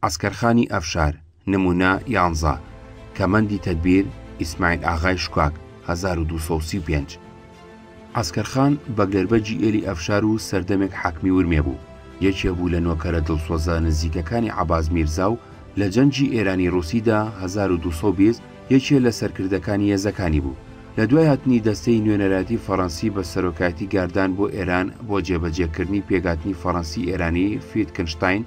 عەسکەرخانی ئەفشار، نموونە، یانزە. کەمەندی تەدبیر، ئیسماعیل ئاغای شکاک، هەزار و دوو سەد و سی و پێنج. عەسکەرخان بە گەربەجی ئێلی ئەفشار و سەردەمێک حاکمی ورمێ بوو، یەکێ بوو لە نۆکەرە دڵسۆزە نزیکەکانی عەباس میرزا و لە جەنگی ئێرانی-ڕووسیدا، هەزار و دوو سەد و بیست، یەکێ لە سەرکردەکانی هێزەکانی بوو. لە دوای هاتنی دەستەی نوێنەرایەتی فەڕەنسی بە سەرۆکایەتی گاردان بۆ ئێران بۆ جێبەجێکردنی پێکهاتنی فەڕەنسی-ئێرانی فیتکنشتاین،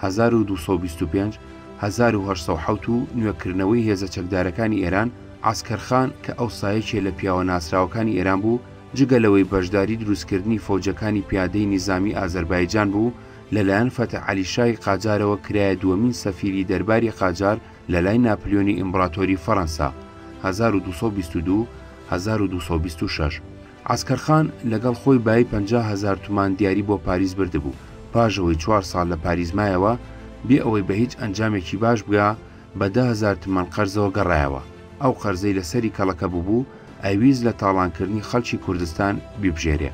هەزار و دوو سەد و بیست و پێنج، هەزار و هەشت سەد و حەوت و نوێکردنەوەی هێزە چەکدارەکانی ئێران، عەسکەر خان کە ئەوسا یەکێ لە پیاوە ناسراوەکانی ئێران بوو، جگە لەوەی بەشداری دروستکردنی فەوجەکانی پیادەی نیزامی ئازەربایجان بوو، لەلایەن فەتح عەلی شای قاجارەوە کرایە دووەمین سەفیری دەرباری قاجار لەلای ناپلیۆنی ئیمبڕاتۆری فەرەنسا، هەزار و دوو سەد و بیست و دوو، هەزار و دوو سەد و بیست و شەش. عەسکەرخان لەگەڵ خۆی بایی پەنجا هەزار تومان دیاری بۆ پاریس بردبوو، پاش ئەوەی چوار ساڵ لە پاریس مایەوە، بێ ئەوەی بە هیچ ئەنجامێکی باش بگا، بە دە هەزار تمەن قەرزەوە گەڕایەوە، ئەو قەرزەی لە سەری کەڵەکە بووبوو، ئەیویست لە تاڵانکردنی خەڵکی کوردستان بیبژێرێ.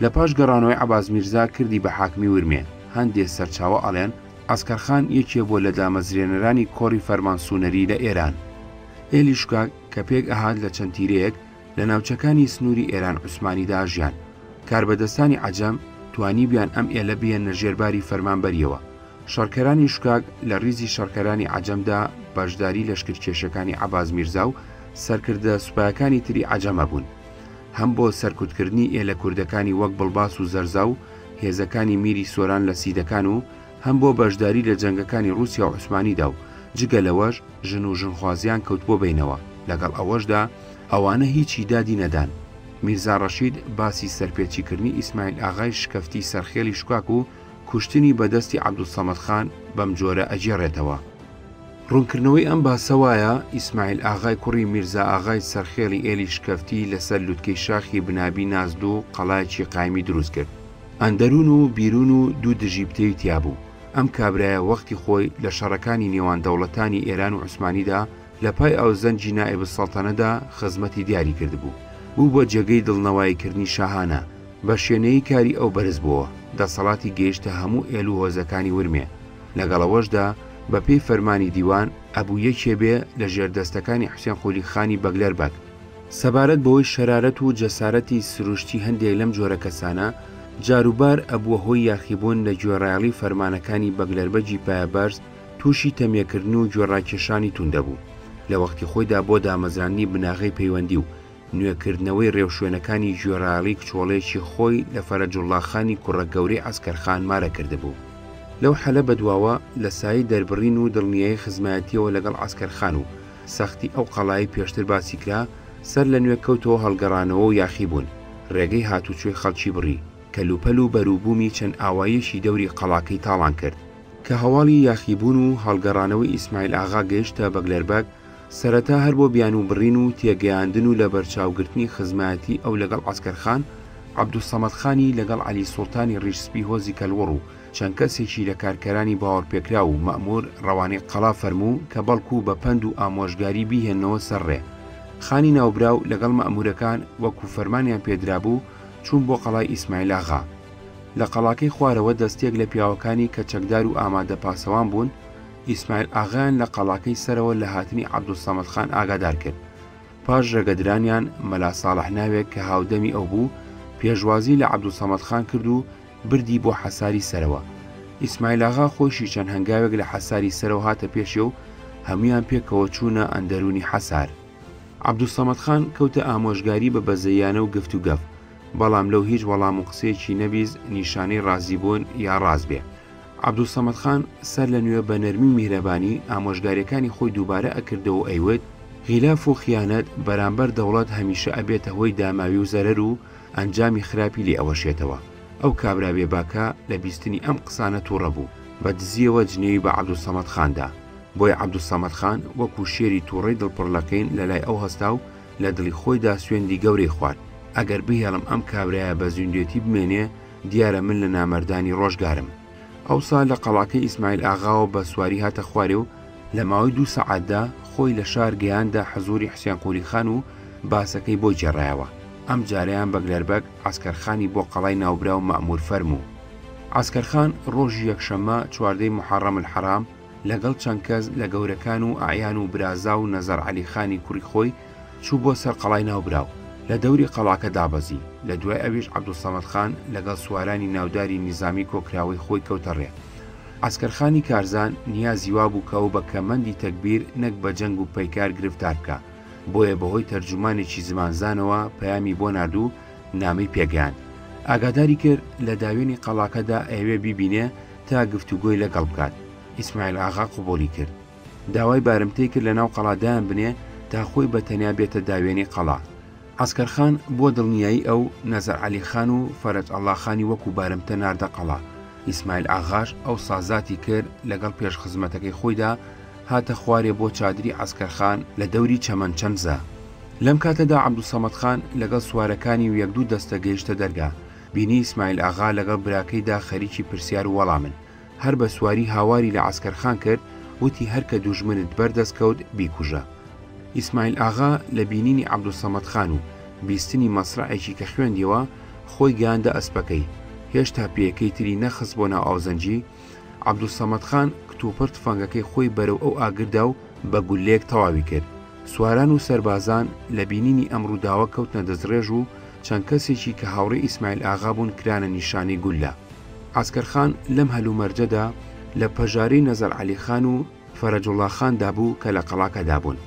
لە پاش گەڕانەوەی عەباس میرزا کردی بە حاکمی ورمێ، هەندێ سەرچاوە ئەڵێن، عەسکەرخان یەکێ بووە لە دامەزرێنەرانی کۆڕی فەرمانسوونەری لە ئێران. ئێلیشکا کە پێک ئەهات لە چەند تیرەیەک، لە ناوچەکانی سنووری ئێران عوسمانیدا ژیان کاربەدەستانی عجەم توانیبیان ئەم ئێلە بێنە ژێرباری فەرمانبەریەوە شەڕکەرانی شکاک لە ریزی شەڕکەرانی عجەمدا بەشداری لەشکر کێشەکانی عباز میرزا و سەرکردە سوپایەکانی تری عجەمە بوون هەم بۆ سەرکوتکردنی ئێلە کوردەکانی وەک بڵباس و زەرزا و هێزەکانی میری سۆران لە سیدەکان و هەم بۆ بەشداری لە جەنگەکانی ڕووسیا و عوسمانیدا و جگە لەوەش ژن و ژنخوازیان کەوتبووە بەینەوە، لەگەڵ ئەوەشدا ئەوانە هیچی دادی نەدان. میرزا ڕەشید باسی سەرپێچیکردنی ئیسماعیل ئاغای شکەفتی سەرخێڵی شکاک و کوشتنی بە دەستی عەبدولسەمەد خان بەم جۆرە ئەگێڕێتەوە. ڕوونکردنەوەی ئەم باسە وایە، ئیسماعیل ئاغای کوڕی میرزا ئاغای سەرخێڵی ئێلی شکەفتی لەسەر لوتکەی شاخی بنابی نازدوو قەڵایەکی قایمی دروست کرد. ئەندەروون و بیروون و دوو دژی بتەوی تیا بوو. ئەم کابرایە وەختی خۆی لە شەڕەکانی نێوان دەوڵەتانی ئێران و عوسمانیدا لە پای ئاوسزەنگی نائب السلطنەدا خزمەتی دیاری کردبوو. بوو بە جێگەی دڵنەوایی کردنی شاهانە. بە شێنەیی کاری ئەو بەرز بۆوە. دەسەڵاتی گەیشتە هەموو ئێل و هۆزەکانی ورمێ. لەگەڵ ئەوەشدا بە پێی فەرمانی دیوان، ئەبوو یەکێ بێ لە ژێردەستەکانی حوسێن قولی خانی بەگلەر بەگ. سەبارەت بەوەی شەرارەت و جەسارەتی سروشتی هەندێک لەم جۆرە کەسانە جاروبار ئەبووە هۆی یاخیبوون لە گوێڕایەڵی فەرمانەکانی بەگلەربەگی پایەبەرز تووشی تەمیەکردن و گوێڕاکێشانی توند دەبوو لە وەختی خۆیدا بۆ دامەزراندنی بناغەی پەیوەندی و نوێکردنەوەی رێوشوێنەکانی گوێڕایەڵی کچۆڵەیەکی خۆی لە فەرەجوڵڵاخانی کوڕە گەورەی عەسکەرخان مارە کردبوو لەو حەلە بەدواوە لە سایەی دەربڕین و دڵنیایی خزمایەتیەوە لەگەڵ عەسکەرخان و سەختی ئەو قەڵایەی پێشتر باسی کرا، سەر لە نوێ کەوتەوە هەڵگەڕانەوە و یاخیبوون، ڕێگەی هاتوچۆی خەڵکی بڕی، کەلوپەل و بەروبوومی چەند ئاواییەکی دەوری قەڵاکەی تاڵان کرد. کە هەواڵی یاخیبوون و هەڵگەڕانەوەی ئیسماعیل ئاغا گەیشتە بەگلەربەگ، سەرەتا هەر بۆ بیانوو بڕین و تێگەیاندن و لەبەرچاوگرتنی خزمایەتی ئەو لەگەڵ عەسکەرخان، عەبدولسەمەدخانی لەگەڵ عەلی سوڵتانی ڕیش سپی هۆزی کەلوڕ و چەند کەسێکی لە کارکەرانی باوەڕپێکراو و مەئموور ڕەوانەی قەڵا فەرموو کە بەڵکوو بە پەند و ئامۆژگاری بیهێننەوە سەر ڕێ. خانی ناوبراو لەگەڵ مەئموورەکان وەکوو فەرمانیان پێ درابوو چوون بۆ قەڵای ئیسماعیلاغا. لە قەڵاکەی خوارەوە دەستەیەک لە پیاوەکانی کە چەکدار و ئامادە پاسەوان بوون، ئیسماعیل ئاغایان لە قەڵاکەی سەرەوە لە هاتنی عەبدولسەمەد خان ئاگادار کرد. پاش ڕێگەدرانیان مەلا ساڵح ناوێک کە هاودەمی ئەو بوو، پێشوازی لە عەبدولسەمەد خان کرد و بردی بۆ حەساری سەرەوە. ئیسماعیلاغا خۆیشی چەند هەنگاوێک لە حەساری سەرەوە هاتە پێشێ و هەموویان پێکەوە چوونە ئەندەروونی حەسار. عەبدولسەمەدخان کەوتە ئامۆژگاری بە بەزەییانە و گفت و گەف، بەڵام لەو هیچ وەڵام و قسەیەکی نەبیست نیشانەی ڕازیبوون یا ڕاست بێ. عەبدولسەمەدخان سەر لە نوێ بە نەرمی و میهرەبانی ئامۆژگارییەکانی خۆی دووبارە ئەکردەوە و ئەیوت، غیلاف و خیانەت بەرامبەر دەوڵەت هەمیشە ئەبێتە هۆی داماوی و زەرەر و، ئەنجامی خراپی لێ ئەوەشێتەوە، ئەو کابرا بێ باکە لە بیستنی ئەم قسانە توڕە بوو، بە دزیەوە جنێوی بە عەبدولسەمەد خان دا، بۆیە عەبدولسەمەد خان وەکو شێری توڕەی دڵ پڕ لە کین لە لای ئەو هەستا و لە دڵی خۆیدا سوێندی گەورەی خوارد، ئەگەر بهێڵم ئەم کابرایە بە زیندوێتی بمێنێ دیارە من لە نامەردانی ڕۆژگارم. ئەوسا لە قەڵاکەی ئیسماعیل ئاغاوە بە سواری هاتە خوارێ و لە ماوەی دوو سەعاتدا خۆی لە شار گەیاندە حەزوری حسێن قولی خان و باسەکەی بۆ گێڕایەوە ئەم جارەیان بەگلەربەگ عسکەرخانی بۆ قەڵای ناوبراو مەمور فەرموو عسکەرخان ڕۆژی یەکشەممە چواردەی محەڕەم الحەرام لەگەڵ چەند کەس لە گەورەکان و ئەعیان و برازا و نەزەر عەلی خانی کوڕی خۆی چوو بۆ سەر قەڵای ناوبراو، لە دەوری قەڵاکە دابەزی، لە دوای ئەویش عەبدولسەمەد خان لەگەڵ سوارانی ناوداری نیزامی کۆکراوەی خۆی کەوتە ڕێ. عەسکەرخانی کارزان نیازی وا بوو کە ئەو بە کەمەندی تەگبیر نەک بە جەنگ و پەیکار گرفتار بکا، بۆیە بە هۆی تەرجومانێکی زمانزانەوە پەیامی بۆ نارد و نامەی پێ گەیاند. ئاگاداری کرد لە داوێنی قەڵاکەدا ئەیەوێ بیبینێ تا گفتوگۆی لە گەڵ بکات. ئیسماعیل ئاغا قبووڵی کرد. داوای بارمتەی کرد لەناو قەڵا دایانبنێ تا خۆی بە تەنیا بێتە داوێنی قەڵا. عەسکەرخان بۆ دڵنیایی ئەو، نەزەر عەلی خان و فەرەج ئەڵڵا خانی وەکوو بارمتە ناردە قەڵا. ئیسمایل ئاغاش ئەوسا زاتی کرد لەگەڵ پێشخزمەتەکەی خۆیدا هاتە خوارێ بۆ چادری عەسکەرخان لە دەوری چەمەن چەنزە. لەم کاتەدا عەبدولسەمەد خان لەگەڵ سوارەکانی و یەک دوو دەستە گەیشتە دەرگا. بینی ئیسمایل ئاغا لەگەڵ براکەیدا خەریکی پرسیار و وەڵامن. هەر بە سواری هاواری لە عەسکەرخان کرد، وتی هەر کە دوژمنت بەر دەست کەوت بیکوژە. ئیسماعیل ئاغا لە بینینی عەبدولسەمەد خان و بیستنی مەسرەعێکی کە خوێندیەوە، خۆی گەیاندە ئەسپەکەی، هێشتا پێیەکەی تری نەخست بۆ ناو ئاوزەنگی، عەبدولسەمەد خان کتوپڕ تفەنگەکەی خۆی بەرەو ئەو ئاگر دا و بە گوللەیەک تەواوی کرد. سواران و سەربازان لە بینینی ئەم ڕووداوە کەوتنە دەستڕێژ و چەند کەسێکی کە هاوڕێی ئیسماعیل ئاغا بوون کرانە نیشانەی گوللە. عەسکەر خان لەم هەلومەرجەدا لە پەژارەی نەزەر عەلی خان و فەرەجوڵا خاندا بوو کە لە قەڵاکەدا بوون.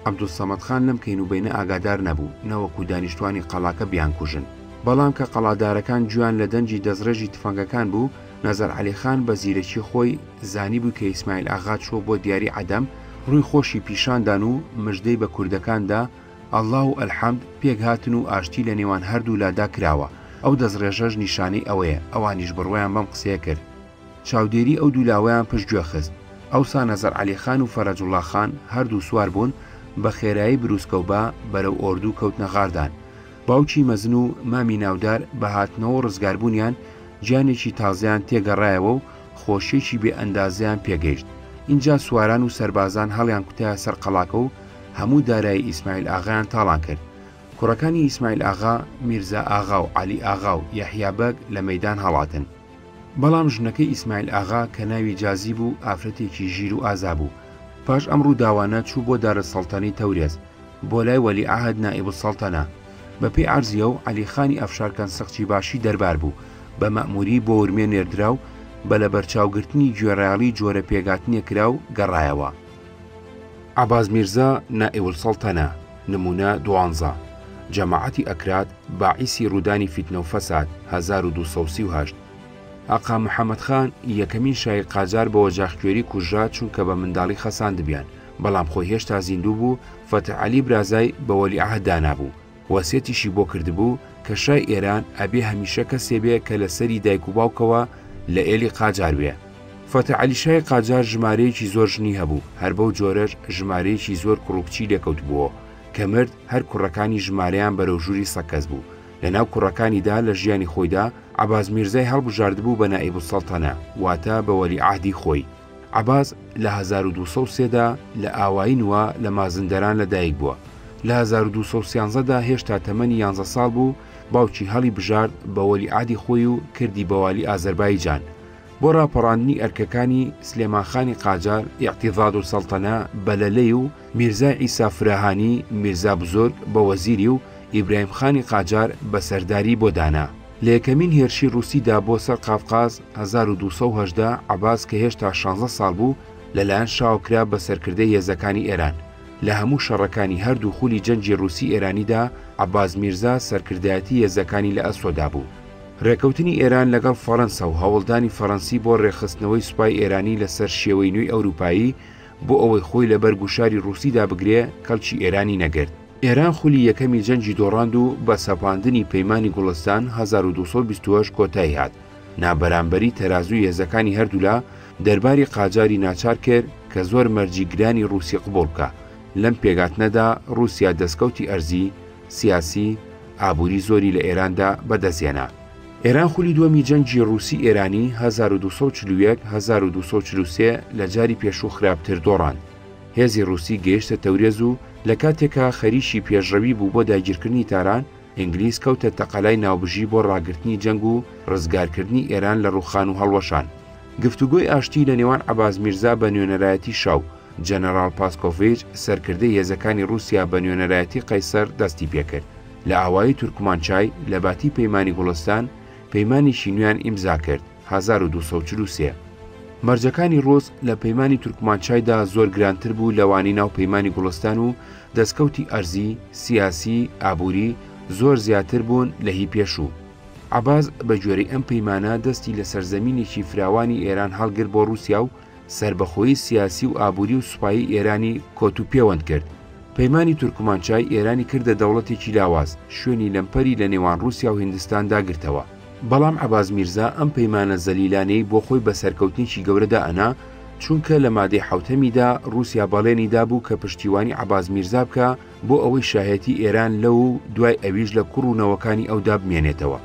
عەبدولسەمەد خان لەم کەینوبەینە ئاگادار نەبوو، نەوەکو دانیشتوانی قەڵاکە بیانکوژن. بەڵام کە قەڵادارەکان گوێیان لە دەنگی دەستڕێژی تفەنگەکان بوو، نەزەر عەلی خان بە زیرەکی خۆی زانیبووی کە ئیسماعیل ئاغا چووە بۆ دیاری عەدەم، ڕووی خۆشی پیشاندان و مژدەی بە کوردەکان دا، اللە و الحمد پێکهاتن و ئاشتی لە نێوان هەردوولادا کراوە، ئەو دەستڕێژەش نیشانەی ئەوەیە، ئەوانیش بڕوایان بەم قسەیە کرد. چاودێری ئەو دوو لاوەیان پشتگوێ خست. ئەوسا نەزەر عەلی خان و فەرەجوڵڵا خان هەردوو سوار بوون، بە خێرایی برووسکە و با بەرەو ئۆردوو کەوتنە غاردان. باوکی مەزن و مامی ناودار بە هاتنەوە و ڕزگاربوونیان، گیانێکی تازەیان تێگەڕایەوە و خۆشییەکی بێ ئەندازەیان پێگەیشت. ئینجا سواران و سەربازان هەڵیانکوتایە سەر قەڵاکە و هەموو دارایی ئیسماعیل ئاغایان تاڵان کرد. کوڕەکانی ئیسماعیل ئاغا، میرزا ئاغا و عەلی ئاغا و یەحیا بەگ لە مەیدان هەڵاتن. بەڵام ژنەکەی ئیسماعیل ئاغا کە ناوی جازی بوو، ئافرەتێکی ژیر و ئازا بوو. پاش ئەم ڕووداوانە چوو بۆ دارەسەڵتەنەی تەورێز، بۆ لای وەلیعەهد نائیبولسەڵتەنە. بەپێی عەرزییەو عەلیخانی ئەفشارکەن سقچیباشی دەربار بوو، بە مەئمووری بۆ ورمێ نێردرا و بە لەبەرچاوگرتنی گوێڕایەڵی جۆرە پێکهاتنێک کرا و گەڕایەوە. عەباس میرزا نائیولسەڵتەنە، نموونە دوانزە، جەماعەتی ئەکراد باعیسی ڕوودانی فیتنە و فەساد، هەزار و دوو سەد و سی و هەشت. ئاقا محەمەد خان، یەکەمین شای قاجار بە وەجاخکوێری کوژرا چونکە بە منداڵی خەساندبیان، بەڵام خۆی هێشتا زیندوو بوو، فەتح عەلی برازای بە وەلیعەهد دانابوو، وەسیەتیشی بۆ کردبوو کە شای ئێران ئەبێ هەمیشە کەسێ بێ کە لە سەری دایک و باوکەوە لە ئێلی قاجار بێ. فەتح عەلی شای قاجار ژمارەیەکی زۆر ژنی هەبوو، هەر بەو جۆرەش ژمارەیەکی زۆر کوڕ و کچی لێ کەوتبووەوە، کە مرد هەر کوڕەکانی ژمارەیان بەرەو ژووری سەکەس بوو. لە ناو کوڕەکانیدا لە ژیانی خۆیدا عەباس میرزای هەڵبژاردبوو بە نائیبولسەڵتەنە، واتە بە وەلیعەهدی خۆی. عەباس لە هەزار و دوو سەد و سێ دا لە ئاوایی نوا لە مازندەران لە دایک بووە، لە هەزار و دوو سەد و سیانزە دا هێشتا تەمەنی یانزە ساڵ بوو باوکی هەڵی بژارد بە وەلی عادی خۆی و کردی بە والی ئازەربایجان بۆ ڕاپەڕاندنی ئەرکەکانی سلێمان خانی قاجار ئیعتیضاد السلطنە بە لەلەی و میرزای عیسا فراهانی میرزا بزرگ بە وەزیری و ئیبراهیم خانی قاجار بە سەرداری بۆ دانا. لە یەکەمین هێرشی ڕووسیدا بۆ سەر قافقاز هەزار و دوو سەد و هەژدە، عەباس کە هێشتا شانزە ساڵ بوو، لەلایەن شاوە کرا بە سەرکردەی هێزەکانی ئێران. لە هەموو شەڕەکانی هەردوو خولی جەنگی ڕووسی-ئێرانیدا، عەباس میرزا سەرکردایەتی هێزەکانی لە ئەسۆدا بوو. ڕێکەوتنی ئێران لەگەڵ فەرەنسا و هەوڵدانی فەرەنسی بۆ ڕێکخستنەوەی سوپای ئێرانی لەسەر شێوەی نوێی ئەوروپایی، بۆ ئەوەی خۆی لەبەر گوشاری ڕووسیدا بگرێ، کەڵکی ئێرانی نەگرت. ئێران خولی یەکەمی جەنگی دۆڕاند و بە سەپاندنی پەیمانی گوڵستان هەزار و دوو سەد و بیست و هەشت کۆتایی هات، نابەرامبەری تەرازووی هێزەکانی هەردوولا دەرباری قاجاری ناچار کرد کە زۆر مەرجی گرانی ڕووسی قبووڵ بکا، لەم پێکهاتنەدا ڕووسیا دەسکەوتی ئەرزی، سیاسی، ئابووری زۆری لە ئێراندا بە دەست هێنا. ئێران خولی دووەمی جەنگی ڕووسی-ئێرانی هەزار و دوو سەد و چل و یەک هەزار و دوو سەد و چل و سێ لە جاری پێشوو خراپتر دۆڕاند، هێزی ڕووسی گەیشتە تەورێز و لە کاتێکا خەریکی پێشڕەوی بوو بۆ داگیرکردنی تاران، ئینگلیز کەوتە تەقەلای ناوبژی بۆ ڕاگرتنی جەنگ و ڕزگارکردنی ئێران لە ڕووخان و هەڵوەشان. گفتوگۆی ئاشتی لە نێوان عەباس میرزا بە نوێنەرایەتی شا و جەنەراڵ پاسکۆڤیچ سەرکردەی هێزەکانی ڕووسیا بە نوێنەرایەتی قەیسەر دەستی پێ کرد. لە ئاوایی تورکمانچای، لە باتی پەیمانی گوڵستان، پەیمانێکی نوێیان ئیمزا کرد. هەزار و دوو سەد و چل و سێ مەرجەکانی ڕۆز لە پەیمانی تورکمانچایدا زۆر گرانتر بوو لەوانەی ناو پەیمانی گوڵستان و دەستکەوتی ئەرزی، سیاسی، ئابووری زۆر زیاتر بوون لە هی پێشوو. عەباس بە گوێرەی ئەم پەیمانە دەستی لەسەر زەمینێکی فراوانی ئێران هەڵگرت بۆ ڕووسیا و سەربەخۆیی سیاسی و ئابووری و سوپایی ئێرانی کۆت و پێوەند کرد. پەیمانی تورکمانچای ئێرانی کردە دەوڵەتێکی لاواز، شوێنی لەمپەری لە نێوان ڕووسیا و هیندستاندا گرتەوە. بەڵام عەباس میرزا ئەم پەیمانە زەلیلانەی بۆ خۆی بە سەرکەوتنێکی گەورە دائەنا، چونکە لە مادەی حەوتەمیدا ڕووسیا بەڵێنی دابوو کە پشتیوانی عەباس میرزا بکا، بۆ ئەوەی شایەتی ئێران لەو و دوای ئەویش لە کوڕ و نەوەکانی ئەودا بمێنێتەوە.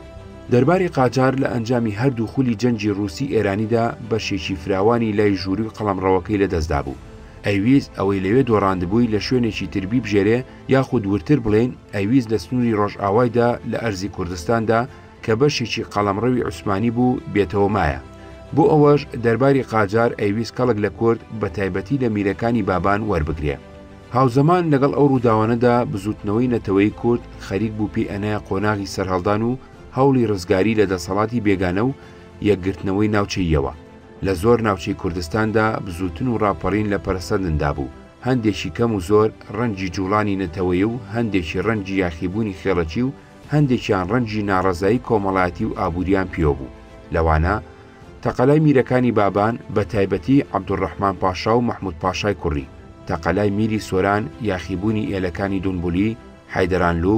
دەرباری قاجار لە ئەنجامی هەردوو خولی جەنگی ڕووسی ئێرانیدا بەشێکی فراوانی لای ژووری و قەڵەمڕەوەکەی لەدەستدا بوو. ئەیویست ئەوەی لەوێ دۆڕاندبووی لە شوێنێکی تر بیبژێرێ یاخود وردتر بڵێین ئەیویست لە سنووری ڕۆژئاوایدا لە ئەرزی کوردستاندا کە بەشێکی قەڵەمڕەوی عوسمانی بوو بێتەوە مایە. بۆ ئەوەش دەرباری قاجار ئەیویست کەڵک لە کورد بەتایبەتی لە میرەکانی بابان وەربگرێ. هاوزەمان لەگەڵ ئەو ڕووداوانەدا بزووتنەوەی نەتەوەیی کورد خەریک بوو پێی ئەنایە قۆناغی سەرهەڵدان و هەوڵی ڕزگاری لە دەسەڵاتی بێگانە و یەکگرتنەوەی ناوچەییەوە. لە زۆر ناوچەی کوردستاندا بزووتن و ڕاپەڕین لە پەرەسەندندا بوو، هەندێکی کەم و زۆر ڕەنجی جووڵانی نەتەوەیی و هەندێکی ڕەنجی یاخیبوونی خێڵەکی و هەندێکیان ڕەنجی ناڕەزایی کۆمەڵایەتی و ئابوورییان پێوە بوو، لەوانە، تەقەلای میرەکانی بابان، بە تایبەتی عەبدولڕەحمان پاشا و مەحمود پاشای کوڕی، تەقەلای میری سۆران، یاخیبوونی ئێلەکانی دونبولی، حەیدەرانلو،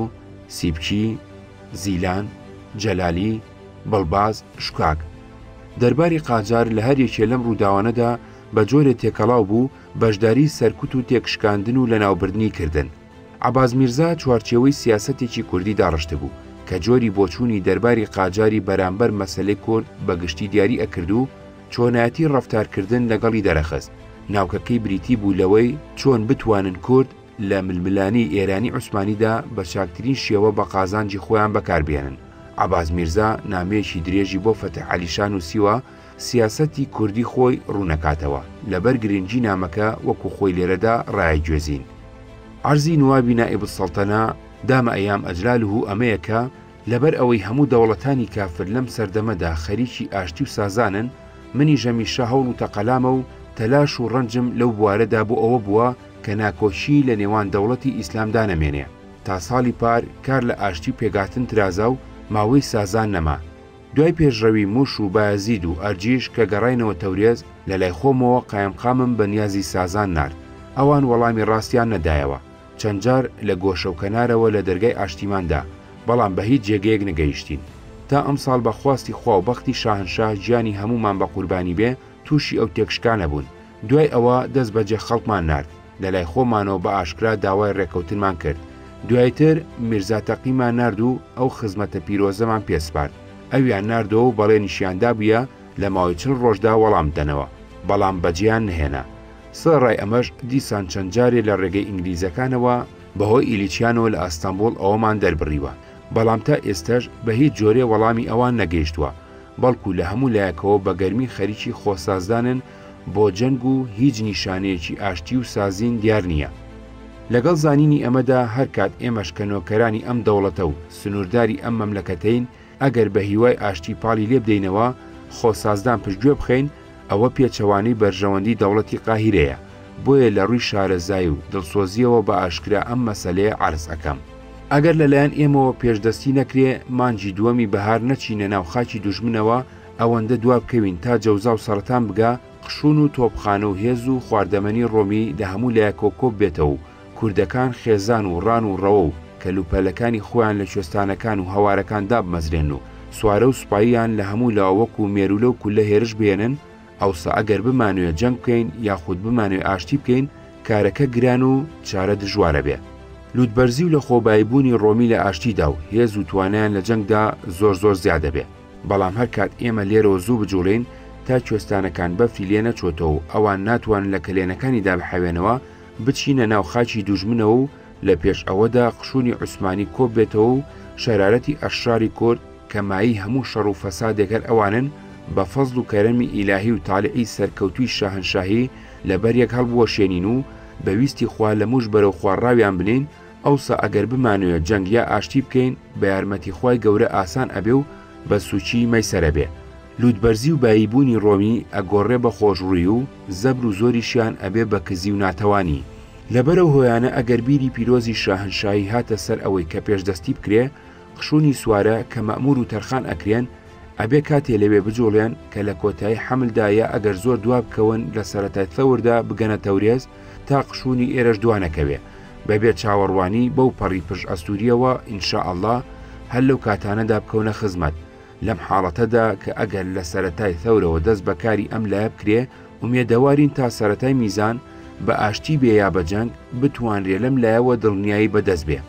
سیبکی، زیلان، جەلالی، بڵباز، شکاک. دەرباری قاجار لە هەر یەکێ لەم ڕووداوانەدا بە جۆرێ تێکەڵاو بوو، بەشداریی سەرکوت و تێکشکاندن و لەناوبردنی کردن. عەباس میرزا چوارچێوەی سیاسەتێکی کوردی داڕشتبوو کە جۆری بۆچوونی دەرباری قاجاری بەرامبەر مەسەلەی کورد بە گشتی دیاری ئەکرد و چۆنایەتی ڕەفتارکردن لەگەڵی دەرەخست، ناوکەکەی بریتی بوو لەوەی چۆن بتوانن کورد لە ململانێی ئێرانی عوسمانیدا بە چاکترین شێوە بە قازانجی خۆیان بەکاربێنن، عەباس میرزا نامەیەکی درێژی بۆ فەتح عەلیشا نووسیوە سیاسەتی کوردی خۆی ڕوونەکاتەوە لەبەر گرنگی نامەکە وەکو خۆی لێرەدا ڕایەگوێزین عەرزی نوابی نائب السلطنە دام ایام اجلاله ئەمەیە کە لەبەر ئەوەی هەموو دەوڵەتانی کافر لەم سەردەمەدا خەریکی ئاشتی و سازانن منیش هەمیشە هەوڵ و تەقەلامە و تەلاش و ڕەنجم لەو بوارەدا بۆ ئەوە بووە کە ناکۆکیی لە نێوان دەوڵەتی ئیسلامدا نەمێنێ تا ساڵی پار کار لە ئاشتی و پێکهاتن ترازا و ماوەی سازان نەما دوای پێشڕەوی موش و بایەزید و ئەرجیش کە گەڕاینەوە تەورێز، لە لای خۆمەوە قایمقامم بە نیازی سازان نارد. ئەوان وەڵامی ڕاستیان نەدایەوە. چەند جار لە گۆشە و کەنارەوە لە دەرگای ئاشتیمان دا، بەڵام بە هیچ جێگەیەک نەگەیشتین. تا ئەمساڵ بە خواستی خوا و بەختی شاهنشاه گیانی هەموومان بە قوربانی بێ، تووشی ئەو تێکشکانە بوون. دوای ئەوە دەست بەجێ خەڵکمان نارد، لەلای خۆمانەوە بە ئاشکرا داوای ڕێکەوتنمان کرد، دوایتر میرزا تەقیمان نارد و ئەو خزمەتە پیرۆزەمان پێ سپارد، ئەویان ناردەوە و بەڵێنیشیان دابوویە لە ماوەی چل ڕۆژدا وەڵام بدەنەوە، بەڵام بەجێیان نەهێنا، سەرەڕای ئەمەش دیسان چەند جارێ لە ڕێگەی ئینگلیزەکانەوە، بەهۆی ئیلیچیانەوە لە ئەستەنبوڵ ئەوەمان دەربڕیوە، بەڵام تا ئێستەش بە هیچ جۆرێ وەڵامی ئەوان نەگەیشتووە، بەڵکو لە هەموو لایەکەوە بە گەرمی خەریکی خۆسازدانن بۆ جەنگ و هیچ نیشانەیەکی ئاشتی و سازین دیار نییە. لەگەڵ زانینی ئەمەدا هەر کات ئێمەش کە نۆکەرانی ئەم دەوڵەتە و سنوورداری ئەم مەملەکەتەین، ئەگەر بە هیوای ئاشتی پاڵی لێبدەینەوە، خۆسازدان پشتگوێ بخەین، ئەوە پێچەوانەی بەرژەوەندی دەوڵەتی قاهیرەیە، بۆیە لە ڕووی شارەزایی و دڵسۆزییەوە بە ئاشکرا ئەم مەسەلەیە عەرز ئەکەم. ئەگەر لە لایەن ئێمەوە پێشدەستی نەکرێ، مانگی دووەمی بەهار نەچینە ناو خاکی دوژمنەوە، ئەوەندە دوا بکەوین تا جەوزا و سەرەتان بگا، قشون و تۆپخانە و هێز و خواردەمەنی ڕۆمی لە هەموو لایەکەوە کۆببێتەوە و، کوردەکان خێزان و ڕان و ڕەوە و کەل و پەلەکانی خۆیان لە کوێستانەکان و هەوارەکان دابمەزرێنن و سوارە و سوپاییان لە هەموو لاوە وەکوو مێروولە و کوللە هێرش بهێنن، ئەوسا ئەگەر بمانوێ جەنگ بکەین یاخود بمانوێ ئاشتی بکەین، کارەکە گران و چارە دژوار ئەبێ. لووتبەرزی و لە خۆبایی بوونی ڕۆمی لە ئاشتیدا و هێز و توانایان لە جەنگدا زۆر زۆر زیاد ئەبێ. بەڵام هەر کات ئێمە لێرەوە زوو بجووڵێین تا کوێستانەکان بەفری لێ نەچۆتەوە و ئەوان ناتوانن لە کەلێنەکانی دابحەوێنەوە، بچینە ناو خاکی دوژمنەوە و لە پێش ئەوەدا قشونی عوسمانی کۆ بێتەوە و شەرارەتی ئەشراری کورد کە مایەی هەموو شەڕ و فەسادێک هەر ئەوانن بە فەزڵ و کەرەمی ئیلاهی و تالعی سەرکەوتووی شاهەنشاهی لە بەر یەک هەڵبوەشێنین و بە ویستی خوا لە موژ بەرەو خوا ڕاویان بنێین ئەوسا ئەگەر بمانەوێ جەنگ یا ئاشتی بکەین بە یارمەتی خوای گەورە ئاسان ئەبێ و بە سووکی مەیسەر ئەبێ لووتبەرزی و بایی بوونی ڕۆمی ئەگۆڕێ بە خۆشڕووی و زەبر و زۆریشیان ئەبێ بە کزی و ناتەوانی. لەبەرئەو هۆیانە ئەگەر بیری پیرۆزی شاهەنشاهی هاتە سەر ئەوەی کە پێش دەستی بکرێ، قشونی سوارە کە مەئموور و تەرخان ئەکرێن، ئەبێ کاتێ لەوێ بجوڵێن کە لە کۆتایی حەمل دا یا ئەگەر زۆر دوا بکەون لە سەرەتای ثەور دا بگەنە تەورێز تا قشونی ئێرەش دوا نەکەوێ بە بێ چاوەڕوانی بەو پەڕی پژئەستوورییەوە ان شاء اللە هەر لەو کاتانەدا بکەونە خزمەت لەم حاڵەتەدا کە ئەگەر لە سەرەتای ثەورەوە دەست بە کاری ئەم لایە بکرێ، ئومێدەوارین تا سەرەتای میزان، بە ئاشتی بێ یا بە جەنگ، بتوانرێ لەم لایەوە دڵنیایی بە دەست بێ.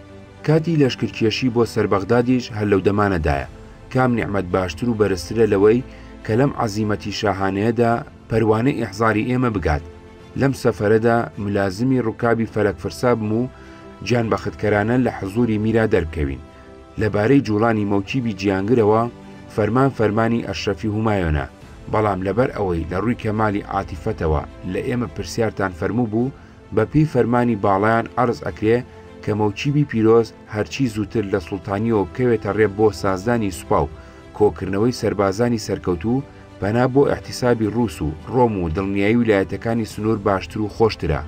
کاتی لەشکرکێشی بۆ سەر بەغدادیش هەر لەو دەمانەدایە. کام نیعمەت باشتر و بەرزترە لەوەی کە لەم عەزیمەتی شاهانەیەدا پەروانەی ئیحزاری ئێمە بگات. لەم سەفەرەدا ملازمی ڕکابی فەلەکفرسا بم و گیانبەختکەرانە لە حزووری میرا دەربکەوین. لە بارەی جوڵانی مۆکیبی جیانگرەوە فەرمان فەرمانی ئەشرەفی هومایۆنە، بەڵام لەبەر ئەوەی لە ڕووی کەمالی عاتیفەتەوە لە ئێمە پرسیارتان فەرموو بوو، بە پێی فەرمانی باڵایان عەرز ئەکرێ کە مۆکیبی پیرۆز هەرچی زووتر لە سوڵتانییەوە بکەوێتە ڕێ بۆ سازدانی سوپا و کۆکردنەوەی سەربازانی سەرکەوتوو پەنا بۆ ئیحتیسابی ڕووس و ڕۆم و دڵنیایی ولایەتەکانی سنوور باشتر و خۆشترە.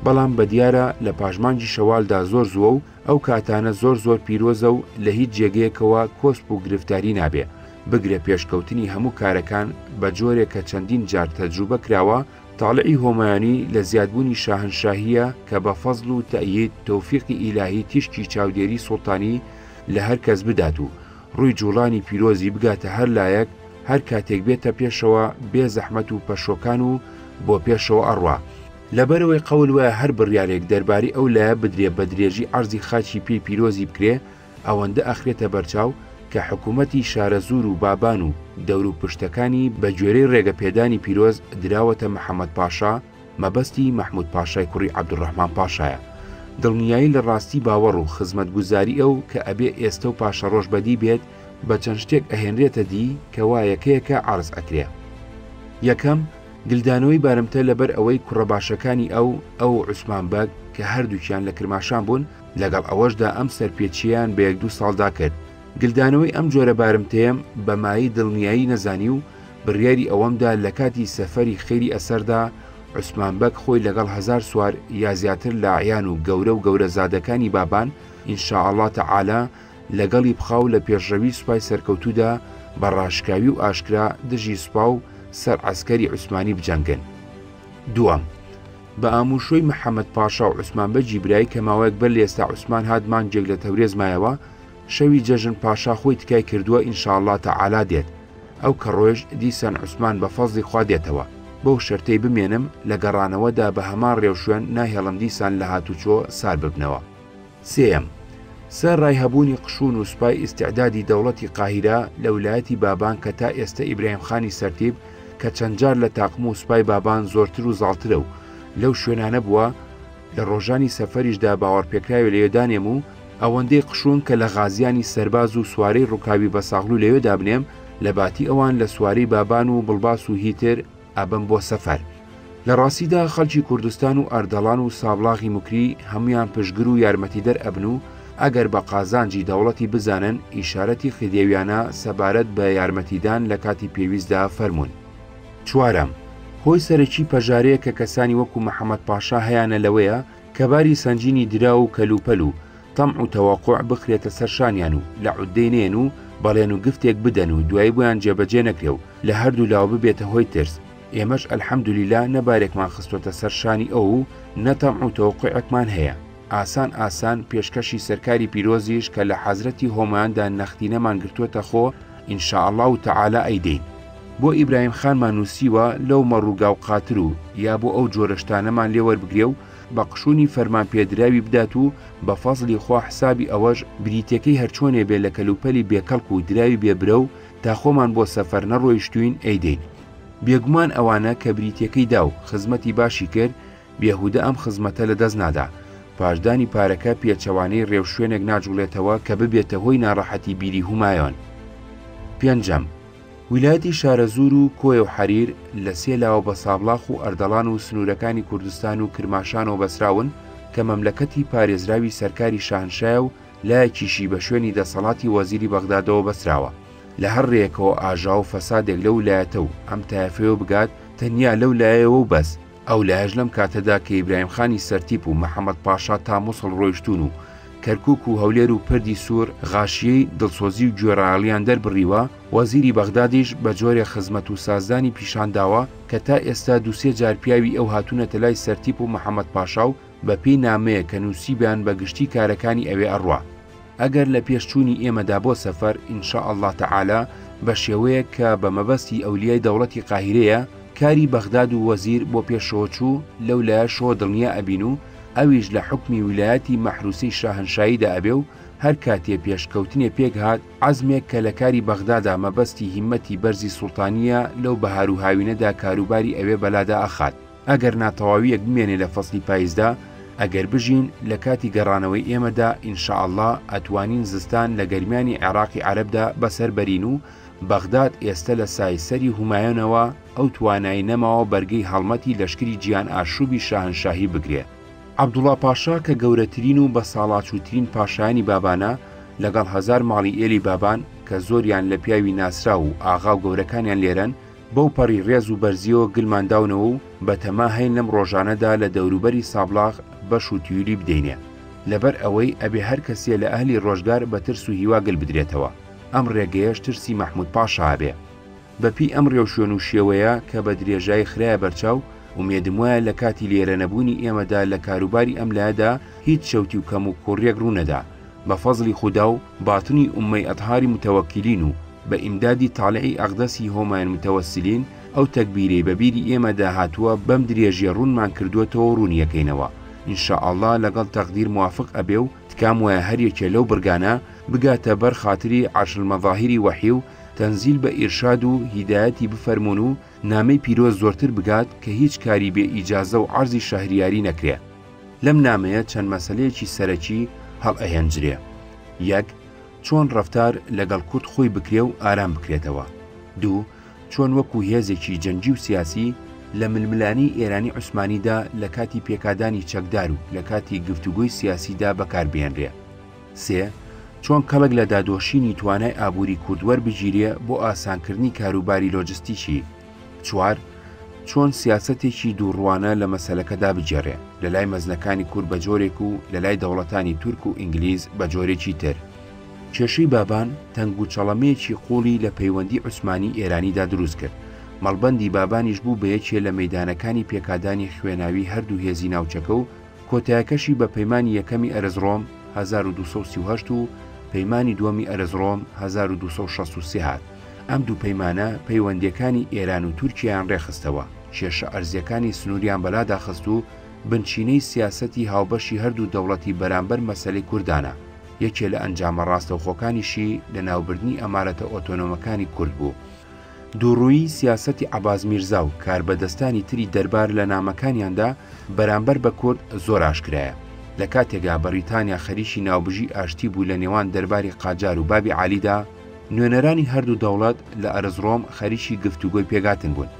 بەڵام بە دیارە لە پاش مانگی شەوالدا زۆر زووە و ئەو کاتانە زۆر زۆر پیرۆزە و لە هیچ جێگەیەکەوە کۆسپ و گرفتاری نابێ، بگرە پێشکەوتنی هەموو کارەکان بە جۆرێک کە چەندین جار تەجروبە کراوە، تاڵعی هۆمایونی لە زیادبوونی شاهەنشاهییە کە بە فەزڵ و تەئیید تۆفیقی ئیلاهی تیشکی چاودێری سوڵتانی لە هەر کەس بدات و ڕووی جووڵانی پیرۆزی بگاتە هەر لایەک هەر کاتێک بێتە پێشەوە بێ زەحمەت و پەشۆکان و بۆ پێشەوە ئەڕوا لەبەرئەوەی قەول وایە هەر بڕیارێک دەربارەی ئەو لایە بدرێ بە درێژی عەرزی خاکی پێی پیرۆزی بکرێ ئەوەندە ئەخرێتە بەرچاو کە حکوومەتی شارەزوور و بابان و دەوروپشتەکانی بە گوێرەی ڕێگە پێدانی پیرۆز دراوەتە محەمەد پاشا مەبەستی مەحموود پاشای کوڕی عەبدولڕەحمان پاشایە دڵنیایی لە ڕاستی باوەڕ و خزمەتگوزاری ئەو کە ئەبێ ئێستە و پاشەڕۆژ بەدی بێت بە چەند شتێک ئەهێنرێتە دی کە وا یەکەیەکە عەرز ئەکرێ. یەکەم، گلدانەوەی بارمتە لەبەر ئەوەی کوڕە باشەکانی ئەو ئەو و عوسمان بەگ کە هەردووکیان لە کرماشان بوون لەگەڵ ئەوەشدا ئەم سەرپێچییەیان بە یەک دوو ساڵدا کرد گلدانەوەی ئەم جۆرە بارمتەیەم بە مایەی دڵنیایی نەزانی و بڕیاری ئەوەمدا لە کاتی سەفەری خێری ئەسەردا عوسمان بەگ خۆی لەگەڵ هەزار سوار یا زیاتر لە عەیان و گەورە و گەورەزادەکانی بابان ان شاء اللە تعالی لەگەڵی بخا و لە پێشڕەوی سوپای سەرکەوتوودا بە ڕاشکاوی و ئاشکرا دژی سوپا و سەر عەسکەری عوسمانی بجەنگن. دووەم، بە ئامووشۆی محەمەد پاشا و عوسمان بەگی برای کە ماوەیەک بەر لە ئێستا عوسمان هات مانگێک لە تەورێز مایەوە، شەوی جەژن پاشا خۆی تکای کردووە انشااللە تعالی دێت، ئەو کە ڕۆێژ دیسان عوسمان بە فەزڵی خوا دێتەوە، بەو شەرتەی بمێنم لە گەڕانەوەدا بە هەمان ڕێوشوێن ناهێڵم دیسان لە هاتوچۆ سار ببنەوە. سێیەم، سە رای هەبوونی قشون و سوپای ئیستعدادی دەوڵەتی قاهیرە لە ولایەتی بابان کە تا ئێستە ئیبراهیم خانی سەرتیپ کە چەند جار لە تاقم و سوپای بابان زۆرتر و زاڵترە و لەو شوێنانە بووە لە ڕۆژانی سەفەریش دا باوەڕپێکراوێ لەوێ دانێم و ئەوەندەی قشون کە لە غازیانی سەرباز و سوارەی ڕوکابی بەساغلو لەوێ دابنێم لە باتی ئەوان لە سوارەی بابان و بڵباس و هی تر، ئەبم بۆ سەفەر. لە ڕاستیدا خەڵکی کوردستان و ئەردەڵان و سابڵاغی موکری هەموویان پشتگر و یارمەتیدەر ئەبن و ئەگەر بە قازانجی دەوڵەتی بزانن ئیشارەتی خدێویانە سەبارەت بە یارمەتیدان لە کاتی پێویستدا فەرموون. چوارەم، هۆی سەرەکی پەژارەیە کە کەسانی وەکو محەمەد پاشا هەیانە لەوەیە کە باری سەنگینی دراو و کەلوپەل و تەمع و تەوەقع بخرێتە سەر شانیان و لە عوددەی نێن و بەڵێن و گفتێک بدەن و دوایی بۆیان جێبەجێ نەکرێ و لە هەردوو لاوە ببێتە هۆی ترس ئێمەش الحمدللە نە بارێکمان خستۆتە سەر شانی ئەو و نە تەمع و تەوەقعێکمان هەیە ئاسان ئاسان پێشکەشی سەرکاری پیرۆزیش کە لە حەزرەتی هۆماندا نەختینەمان گرتووەتە خۆ ان شاء اللە تعالی ئەیدەین. بۆ ئیبراهیم خانمان نووسیوە لەو مەڕ و گاو قاتر و یا بۆ ئەو جۆرە شتانەمان لێ وەربگرێ و بە قشونی فەرمان پێدراوی بدات و بە فەزڵی خوا حسابی ئەوەش بریتەکەی هەرچۆنێ بێ لە کەلوپەلی بێ کەڵک و دراوی بێ برە و تا خۆمان بۆ سەفەر نەڕۆیشتوین ئەیدەین بێگومان ئەوانە کە بریتەکەی دا و خزمەتی باشی کرد بێهودە ئەم خزمەتە لە دەست نادا پاشدانی پارەکە پێچەوانەی ڕێوشوێنێک ناجوڵێتەوە کە ببێتە هۆی ناڕەحەتی بیری هومایۆن پێنجەم. ویلایەتی شارەزوور و کۆیە و حەریر لە سێ لاوە بە سابڵاخ و ئەردەڵان و سنوورەکانی کوردستان و کرماشانەوە بەسراون کە مەملەکەتی پارێزراوی سەرکاری شاهنشایە و لایەکیشی بە شوێنی دەسەڵاتی وەزیری بەغدادەوە بەسراوە. لە هەر رێیەکەوە ئاژاوە و فەسادێک لەو لایەتە و ئەم تایەفەیەوە بگات، تەنیا لەو لایەیەوە و بەس. ئەو لایەش لەم کاتەدا کە ئیبراهیم خانی سەرتیپ و مەحەمەد پاشا تا موسڵ ڕۆیشتوون و کەرکووک و هەولێر و پردی سوور غاشیی دڵسۆزی و گوێڕایەڵیان دەربڕیوە، وەزیری بەغدادیش بە جۆرێ خزمەت و سازدانی پیشان داوە کە تا ئێستا دوو سێ جار پیاوی ئەو هاتوونەتە لای سەرتیپ و مەحەمەد پاشا و بە پێی نامەیەک کە نووسیبیان بە گشتی کارەکانی ئەوێ ئەڕوا. ئەگەر لە پێش چوونی ئێمەدا بۆ سەفەر، ان شاء اللە تعالی، بە شێوەیەک کە بە مەبەستی ئەولیای دەوڵەتی قاهیرەیە، کاری بەغداد و وەزیر بۆ پێشەوە چوو، لەو لایەشەوە دڵنیا ئەبین و ئەویش لە حوکمی ویلایەتی مەحروسەی شاهەنشاییدا ئەبێ و هەر کاتێ پێش کەوتنێ پێک هات، عەزمێک کە لە کاری بەغدادا مەبەستی هیممەتی بەرزی سوڵتانییە لەو بەهار و هاوینەدا کاروباری ئەوێ بەلادا ئەخات. ئەگەر نا تەواویەک بمێنێ لە فەسلی پایزدا، ئەگەر بژین لە کاتی گەڕانەوەی ئێمەدا ان شاء اللە ئەتوانین زستان لە گەرمیانی عێراقی عەرەبدا بەسەر بەرین و بەغداد ئێستە لە سای سەری هومایۆنەوە ئەو توانای نەماوە بەرگەی هەڵمەتی لەشکری جیهان ئاشوبی شاهنشاهی بگرێ. عەبدوڵا پاشا کە گەورەترین و بەساڵاچووترین پاشایانی بابانە لەگەڵ هەزار ماڵی ئێلی بابان کە زۆریان لە پیاوی ناسراو و ئاغا و گەورەکانیان لێرەن، بەو پەڕی ڕێز و بەرزییەوە گلمان داونەوە و بە تەما هەین لەم ڕۆژانەدا لە دەوروبەری سابڵاغ بەش و تیولی بدەینێ. لەبەر ئەوەی ئەبێ هەر کەسێ لە ئەهلی ڕۆژگار بە ترس و هیوا گل بدرێتەوە. ئەم ڕێگەیەش ترسی مەحموود پاشا ئەبێ. بە پیی ئەم ڕێوشوێن و شێوەیە کە بە درێژایی خرایە بەرچاو، ئومێدم وایە لە کاتی لێرە نەبوونی ئێمەدا لە کاروباری ئەم لایەدا هیچ چەوتی و کەموکووڕییەک ڕوو نەدا. بە فەزڵی خودا و باتنی ئوممەی ئەتهاری موتەوەکیلین و بە ئیمدادی تالعی ئەقدەسی هۆمایان موتەوەسیلین ئەو تەکبیرەی بە بیری ئێمەدا هاتووە بەم درێژیە ڕوونمان کردووەتەوەو ڕوونیەکەینەوە ان شاء اللە لەگەڵ تەقدیر موافق ئەبێ و تکام وایە هەر یەکێ لەو بڕگانە بگاتە بەر خاتری عەرش المظاهری وەحی و تەنزیل بە ئیرشاد و هیدایەتی بفەرموون و نامەی پیرۆز زۆرتر بگات کە هیچ کاری بێ ئیجازەو عەرزی شەهریاری نەکرێ. لەم نامەیە چەند مەسەلەیەکی سەرەکی هەڵئەهێنجرێ، یەک چۆن ڕەفتار لەگەڵ کورد خۆی بکرێ و ئارام بکرێتەوە، دوو چۆن وەکوو هێزێکی جەنگی و سیاسی لە ململانێی ئێرانی عوسمانیدا لە کاتی پێکادانی چەکدار و لە کاتی گفتوگۆی سیاسیدا بەکار بهێنرێ، سێ چۆن کەڵک لە دادۆشینی توانای ئابووری کورد وەربگیرێ بۆ ئاسانکردنی کاروباری لۆجستیکی. چوار، چۆن سیاسەتێکی دووڕووانە لە مەسەلەکەدا بگێڕێ، لە لای مەزنەکانی کورد بە جۆرێک و لە لای دەوڵەتانی تورک و ئینگلیز بە جۆرێکی تر. کێشەی بابان تەنگوچەڵەمەیەکی قووڵی لە پەیوەندی عوسمانی ئێرانیدا دروست کرد، مەڵبەندی بابانیش بوو بە یەکێ لە مەیدانەکانی پێکادانی خوێناوی هەردوو هێزی ناوچەکە و کۆتایەکەشی بە پەیمانی یەکەمی ئەرزڕۆم هەزار و دوو سەد و سی و هەشت و پەیمانی دووەمی ئەرزڕۆم هەزار و دوو سەد و شەست و سێ هات، ئەم دوو پەیمانە پەیوەندییەکانی ئێران و تورکیایان ڕێکخستەوە، کێشە ئەرزییەکانی سنووریان بەلادا خست و بنچینەی سیاسەتی هاوبەشی هەردوو دەوڵەتی بەرامبەر مەسەلەی کوردانە، یەکێ لە ئەنجامە ڕاستەوخۆکانیشی لەناوبردنی ئەمارەتە ئۆتۆنۆمەکانی کورد بوو. دووڕوویی سیاسەتی عەباس میرزا و کاربەدەستانی تری دەربار لە نامەکانیاندا بەرامبەر بە کورد زۆر ئاشکرایە. لە کاتێکا بەڕیتانیا خەریکی ناوبژی ئاشتی بوو لە نێوان دەرباری قاجار و بابی عالیدا، نوێنەرانی هەردوو دەوڵەت لە ئەرزڕۆم خەریکی گفتوگۆی پێکهاتن بوون.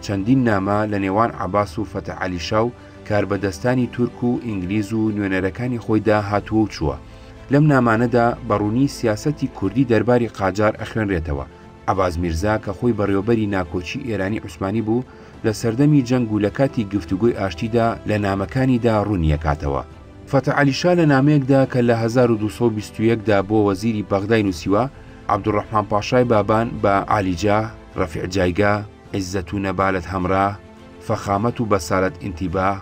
چەندین نامە لە نێوان عەباس و فەتح عەلی شا و کاربەدەستانی تورک و ئینگلیز و نوێنەرەکانی خۆیدا هاتووە و چووە. لەم نامانەدا بە ڕوونی سیاسەتی کوردی دەرباری قاجار ئەخوێنرێتەوە. عەباس میرزا کە خۆی بەڕێوەبەری ناکۆکی ئێرانی عوسمانی بوو لە سەردەمی جەنگ و لە کاتی گفتوگۆی ئاشتیدا لە نامەکانیدا ڕوونی ئەکاتەوە. فەتح عەلی شا لە نامەیەکدا کە لە هەزار و دوو سەد و بیست و یەک دا بۆ وەزیری بەغدای نووسیوە، عەبدولڕەحمان پاشای بابان بە، عالی جاه، رفیع جایگاه، عزت و نبالت همراه، فخامت و بسالت انتباه،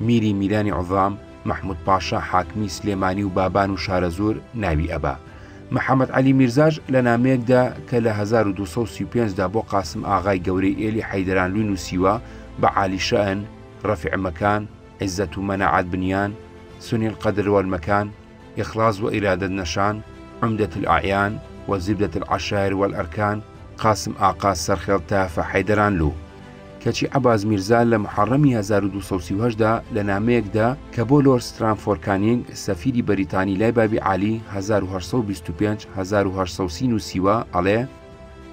میری میرانی عوضام، مەحمود پاشا حاکمی سلێمانی و بابان و شارەزوور ناوی ئەبا. محەمەد عەلی میرزاش لە نامەیەکدا کە لە 1235 دا بۆ قاسم ئاغای گەورەی ئێلی حەیدەرانلوی نووسیوە بە عالی شەئن، رەفیع مەکان، عزەت و مەناعەت بنیان، سنیل قەدر والمەکان، اخلاص و ارادت نشان، عمدة الاعیان، و زبدة العشایر والارکان، قاسم ئاقا سەرخێڵ تافە حەیدەرانلو. کەچی عەباس میرزا لە محەڕەمی هەزار و دوو سەد و سی و هەشت دا لە نامەیەکدا کە بۆ لۆرد سترامفۆر کانینگ سەفیری بەریتانی لای بابی عالی هەزار و هەشت سەد و بیست و پێنج هەزار و هەشت سەد و سی نووسیوە ئەڵێ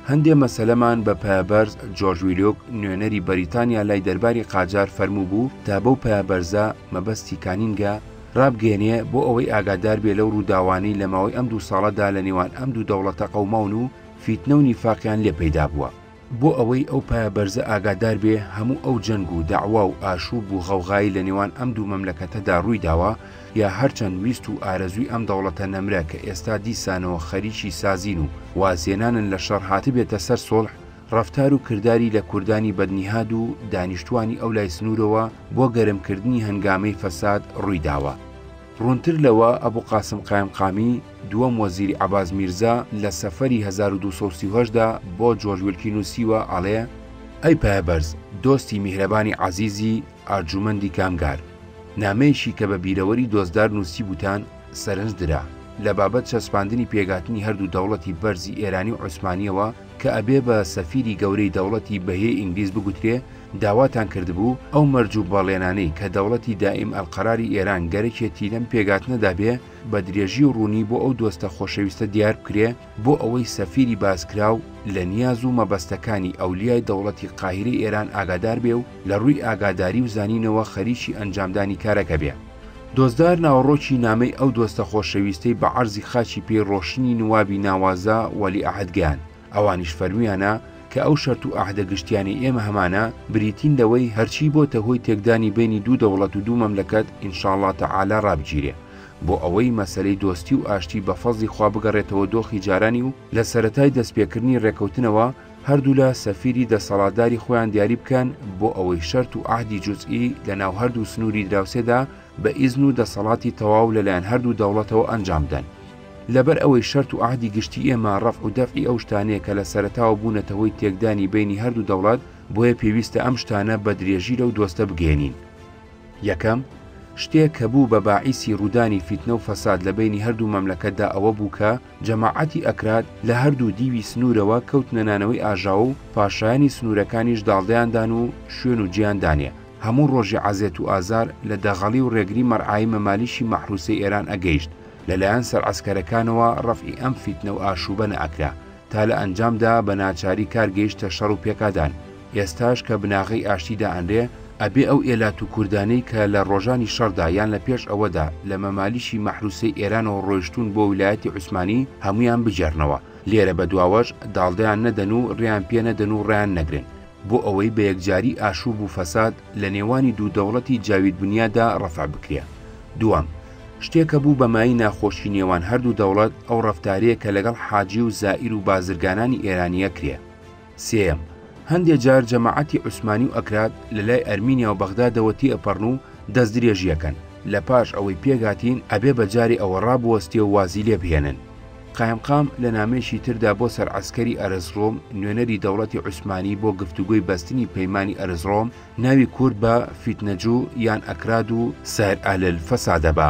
هەندێ مەسەلەمان بە پایەبەرز جۆرج ویلۆک نوێنەری بەریتانیا لای دەرباری قاجار فەرمووبوو تا بەو پایەبەرزە مەبەستی کانینگە رابگەیەنێ بۆ ئەوەی ئاگادار بێ لەو رووداوانەی لە ماوەی ئەم دوو ساڵەدا لە نێوان ئەم دوو دەوڵەتە قەوماون و فیتنە و نیفاقیان لێ پەیدا بووە. بۆ ئەوەی ئەو پایە بەرزە ئاگادار بێ هەموو ئەو جەنگ و دەعوا و ئاشووب و غەوغایەی لە نێوان ئەم دوو مەملەکەتەدا رووی داوە یا هەرچەند ویست و ئارەزووی ئەم دەوڵەتە نەمرە کە ئێستا دیسانەوە خەریکی سازین و وازهێنانن لە شەڕ هاتبێتە سەر سوڵح ڕەفتار و کرداری لە کوردانی بەدنیهاد و دانیشتووانی ئەو لای سنوورەوە بۆ گەرمکردنی هەنگامەی فەساد ڕووی داوە. ڕوونتر لەوە، ئەبو قاسم قایمقامی، دووەم وەزیری عەباس میرزا، لە سەفەری هەزار و دوو سەد و سی و هەشت دا بۆ جۆرج ویلکی نووسیوە، ئەڵێ، ئەی پایەبەرز، دۆستی میهرەبانی عەزیزی، ئەرجومەندی کامگار، نامەیەکی کە بە بیرەوەری دۆستدار نووسیبووتان، سەرنج درا لە بابەت چەسپاندنی پێکهاتنی هەردوو دەوڵەتی بەرزی ئێرانی و عوسمانییەوە کە ئەبێ بە سەفیری گەورەی دەوڵەتی بەهیەی ئینگلیز بگوترێ، داواتان کردبوو ئەو مەرج و بەڵێنانەی کە دەوڵەتی دائیم ئەلقەراری ئێران گەرەکێتی لەم پێکهاتنەدا بێ، بە درێژی و ڕوونی بۆ ئەو دۆستە خۆشەویستە دیار بکرێ، بۆ ئەوەی سەفیری باسکراو لە نیاز و مەبەستەکانی ئەولیای دەوڵەتی قاهیرەی ئێران ئاگادار بێ و لە ڕووی ئاگاداری و زانینەوە خەریکی ئەنجامدانی کارەکە بێ. دۆزدار ناوەڕۆکی نامەی ئەو دۆستە خۆشەویستەی بە عەرزی خاکی پێی ڕۆشنی نوابی ناوازە وەلی عەهد گەیاند، ئەوانیش فەرموویانە کە ئەو شەرت و عەهدە گشتیانەی ئێمە هەمانە، بریتین لەوەی هەرچی بۆتە هۆی تێکدانی بەینی دوو دەوڵەت و دوو مەملەکەت ئینشاڵڵا تەعالا ڕابگیرێ. بۆ ئەوەی مەسەلەی دۆستی و ئاشتی بە فەزڵی خوا بگەڕێتەوە دۆخی جارانی و لە سەرەتای دەستپێکردنی ڕێکەوتنەوە هەردوولا سەفیری دەسەڵاتداری خۆیان دیاری بکەن بۆ ئەوەی شەرت و عەهدی جوزئی لە ناو هەردوو سنووری دراوسێدا بە ئیزن و دەسەڵاتی تەواو لەلایەن هەردوو دەوڵەتەوە ئەنجام بدەن. لەبەر ئەوەی شەرت و عەهدی گشتی ئێمە ڕەفع و دەفعی ئەو شتانەیە کە لە سەرەتاوە بوونەتە هۆی تێکدانی بەینی هەردوو دەوڵەت، بۆیە پێویستە ئەم شتانە بە درێژی لەو دۆستە بگەیەنین. یەکەم، شتێک کە بوو بە باعیسی ڕوودانی فیتنە و فەساد لە بەینی هەردوو مەملەکەتدا ئەوە بوو کە جەماعەتی ئەکراد لە هەردوو دیوی سنوورەوە کەوتنە نانەوەی ئاژاوە و پاشایانی سنوورەکانیش داڵدەیان دان و شوێن و جێیان دانێ هەموو ڕۆژی عەزێت و ئازار لە دەغەڵی و ڕێگری مەرعای مەمالیکی مەحروسەی ئێران ئەگەیشت لە لایەن سەرعەسکەرەکانەوە ڕەفعی ئەم فیتنە و ئاشووبە نەئەکرا تا لە ئەنجامدا بە ناچاری کار گەیشتە شەڕ و پێکادان، ئێستاش کە بناغەی ئاشتی دائەنرێ، ئەبێ ئەو ئێلات و کوردانەی کە لە ڕۆژانی شەڕدا یان لە پێش ئەوەدا لە مەمالیکی مەحروسەی ئێرانەوە ڕۆیشتوون بۆ ویلایەتی عوسمانی، هەموویان بگێڕنەوە لێرە بەدواوەش داڵدەیان نەدەن و ڕێیان پێ نەدەن و ڕایان نەگرن. بۆ ئەوەی بە یەکجاری ئاشوب و فەساد لە نێوانی دوو دەوڵەتی جاوید بنیادا ڕەفع بکرێ. دووەم، شتێ کە بوو بە مایەی ناخۆشی نێوان هەردوو دەوڵەت ئەو ڕەفتارەیە کە لەگەڵ حاجی و زائیر و بازرگانانی ئێرانی ئەکرێ. سێیەم، هەندێ جار جەماعەتی عوسمانی و ئەکراد لە لای ئەرمینیا و بەغدادەوە تێئەپەڕن و دەست درێژی ئەکەن. لە پاش ئەوەی پێکهاتین ئەبێ بە جارێ ئەوە ڕابوەستێ و وازی لێ بهێنن. قایمقام لە نامەیەکی تردا بۆ سەرعەسکەری ئەرزڕۆم نوێنەری دەوڵەتی عوسمانی بۆ گفتوگۆی بەستنی پەیمانی ئەرزڕۆم ناوی کورد بە فیتنەجو یان ئەکراد و سایر ئەهل الفسادە بە